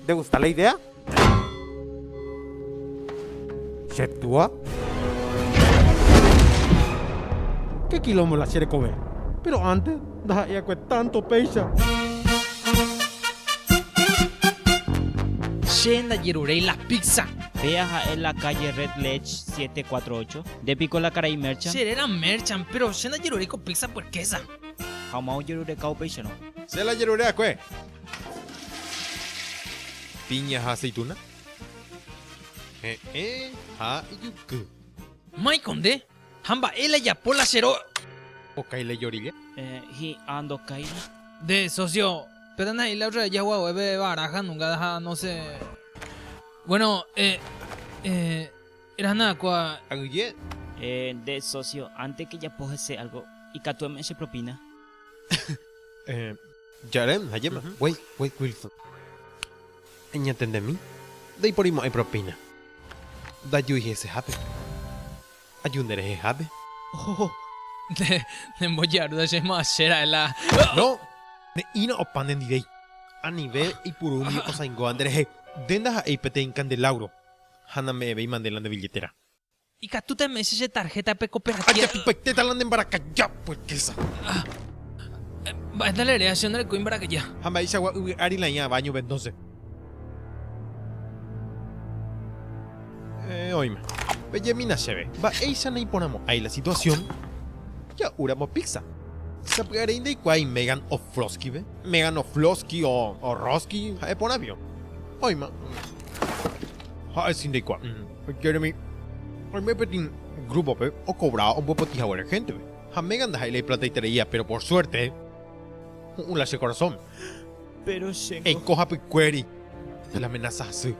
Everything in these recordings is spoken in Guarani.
Nde gusta la idea? Che túa? Ke kilómbo la che rekove. Péro ánte ndaha'éakue tánto péicha. Che ndajeruréi la pizza. Péa ha'e la calle Red Ledge 748. Nde piko la karai Merchant? Che ré la Merchant, péro che ndajeruréi ko pizza puerkésa. Ha omaojerureka upéicharõ. Che la jeruréakue. Piña ha aceituna. He'ẽ ha ijuky. Maiko nde? Ha mba'e la japo la chero. Okái la jorilla. Eh, hi'a ndokáira. Nde, socio, pe tanahai la otra vez jaguague pe baraja nunca da no se Bueno, eh, eh, era nada cua. Aguille. Eh, nde, socio, antes que japo hese algo, ikatu eme'ẽ che propina. eh, Jarem, Jajéma, guái, guái Wilson. Eñatendemi, ndaiporimo'ãi propina. Ndajui hesehápe. Aju nderehehápe. Oho, nde, nembojarúta che mo'ãche ra'e la. No, ne'írã opa nendivéi. Anive eipuru umi osãingóva nderehe. Nde ndaha'éi peteĩ kandelauro ha name'ẽvéimande la nde billetera. Ikatúta eme'ẽse che tarjeta pe cooperativa. Ajapypaitéta la ne mbarakaja purkesa. Mba'éta rere, che ndarekói mbarakaja. Ha mba'eichagua yvy ári la ĩa baño pe entonce. Eh, oime. Pejemína chéve. Mba'éicha naiporãmo'ãi la situación? Ja'u ramo pizza. Sapy'arei ndaikuaái Megan Oflosky-ve. Megan Oflosky o Orrosky, ha'e porãvio. Oima. Ha'e si ndaikuaái. Jeremy, Oime peteĩ grúpope okovráva ombopotĩ haguére héntepe, ha Megan ndaha'éi la iplataitereíva, péro por suerte ho'ũ la che korasóme. Eiko hapykuéri la menasa hasy,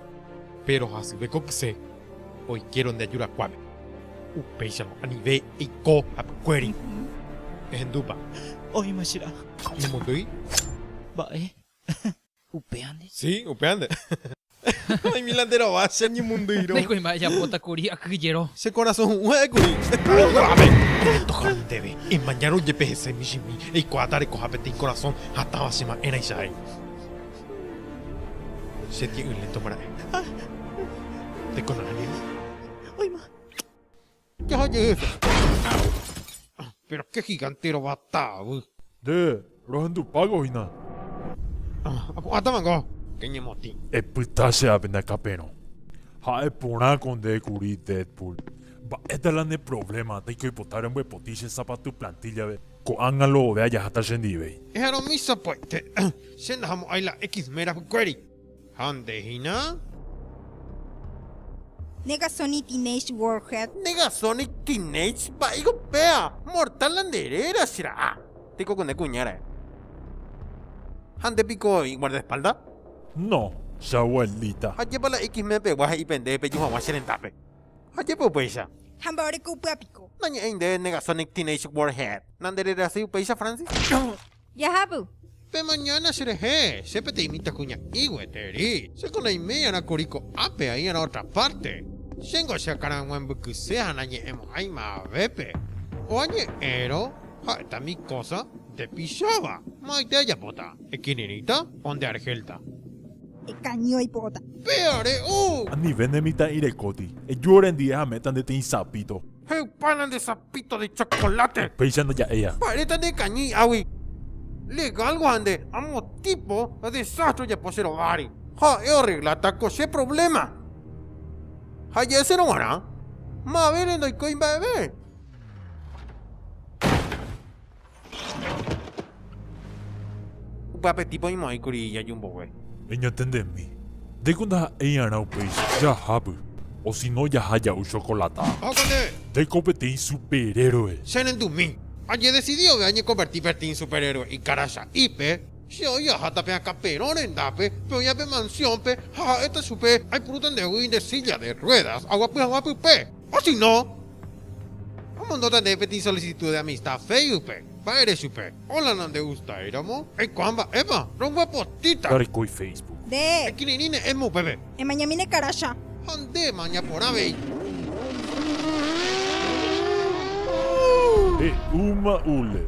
péro hasyve ko kyse oikéro nde ajurakuáme. Upéicharõ anive eiko hapykuéri. Ehendúpa? Oĩma che ra'a. Emondýi? Mba'e. Upévante. Sí, upévante. Oĩmíla nde rova che añemondýirõ. Nde kuimba'e ejapóta kuri aky jero. Che korasõ hu'ũ ha'e kuri. Ave! Tohectoha ndéve, emañárõ jepe hese michĩmi, eikuaáta rekoha peteĩ korasõ hatãva che ma'ẽraicha he'i. Che tie'ỹ lénto mara'e. Tekonaha ningo. Oĩma. Jaha jeheve. Péro ke gigante rovata avy. Nde, rohendupágo hína. Apu'ãta mango. Ke ñemotĩ. Epyta che ápe ndakapérõ. Ha'e porã ko nde kuri Deadpool. Mba'éta la ne provléma, taiko ipota rembyepotĩ che sapatu plantíllave. Ko'ág̃a lo ove ajaháta chendive. Eharõ misa poete. Che ndahamo'ãi la X-Men rapykuéri. Ha nde hína? Negasonic Teenage Warhead. Negasonic Teenage vai gopea, mortal la nde réra che ra'a. Tekokune kuña rae. Ha nde piko iguardaespalda? No, che abuelita. Ha jepa la X-Men pegua he'i pende peju haguã che rendápe. Ha jepe upéicha. Ha mbaoreko upéva piko. Nañe'ẽi nde Negasonic Teenage Warhead. Na nde rerasy upéicha Francis? Jahápy. Pe mañána cherehe, che peteĩ mitãkuña'i gueteri. Chéko naiméiarã kuri ko'ápe, aí'arã ótra párte. Chéngo che akã rãg̃ua mbykyse ha nañe'ẽmo'ãima avépe. Ko añe'ẽrõ ha'éta mi kósa ndepicháva. Ma'aite ajapóta. Ekirirĩta o nde argélta. Ekañy oipo'óta. Péa re'u! Anive ne mitã'irekóti. Eju orendive ha méta nde tĩi sapíto. He'upána nde sapito de chocolate. Péicha ndoja'éiva. Mba'érepa nde kañy hi'águi. Legálgo ha nde amo tipo desastre ojapo che rováre. Ha'e orregláta ko che problema. Ha ja'esérõ g̃uarã, mavére ndoikói mba'eve. Upe apetýpe oimo'ãikuri ijaju mbogue. Eñatendemi. Ndéiko ndaha'éi'arã upéicha. Jahápy. Osino jaha ja'u chokolata. Ohókante! Ndéiko peteĩ superhéroe. Che rendumi. Ajedesidi ove añekonverti peteĩ superhéroe ikaracha'ípe. Che oĩ aháta pe akã perõ rendápe, pe oĩva pe mansiónpe, ha ha'éta chupe, Aipurúta nde guýi nde sílla de ruédas, aguapy hag̃ua pype. Osino! Amondóta nde peteĩ solisitú de amista Féisbucpe. Mba'ére chupe. Óla nandegustáiramo. Eikuaa mba'épa. Roguapotĩta. Reikói Féisbuc. Nde. Ekirirĩ ne'ẽme upépe. Emañamíne karácha. Ha ndéma ñaporã avei. He'úma Uller.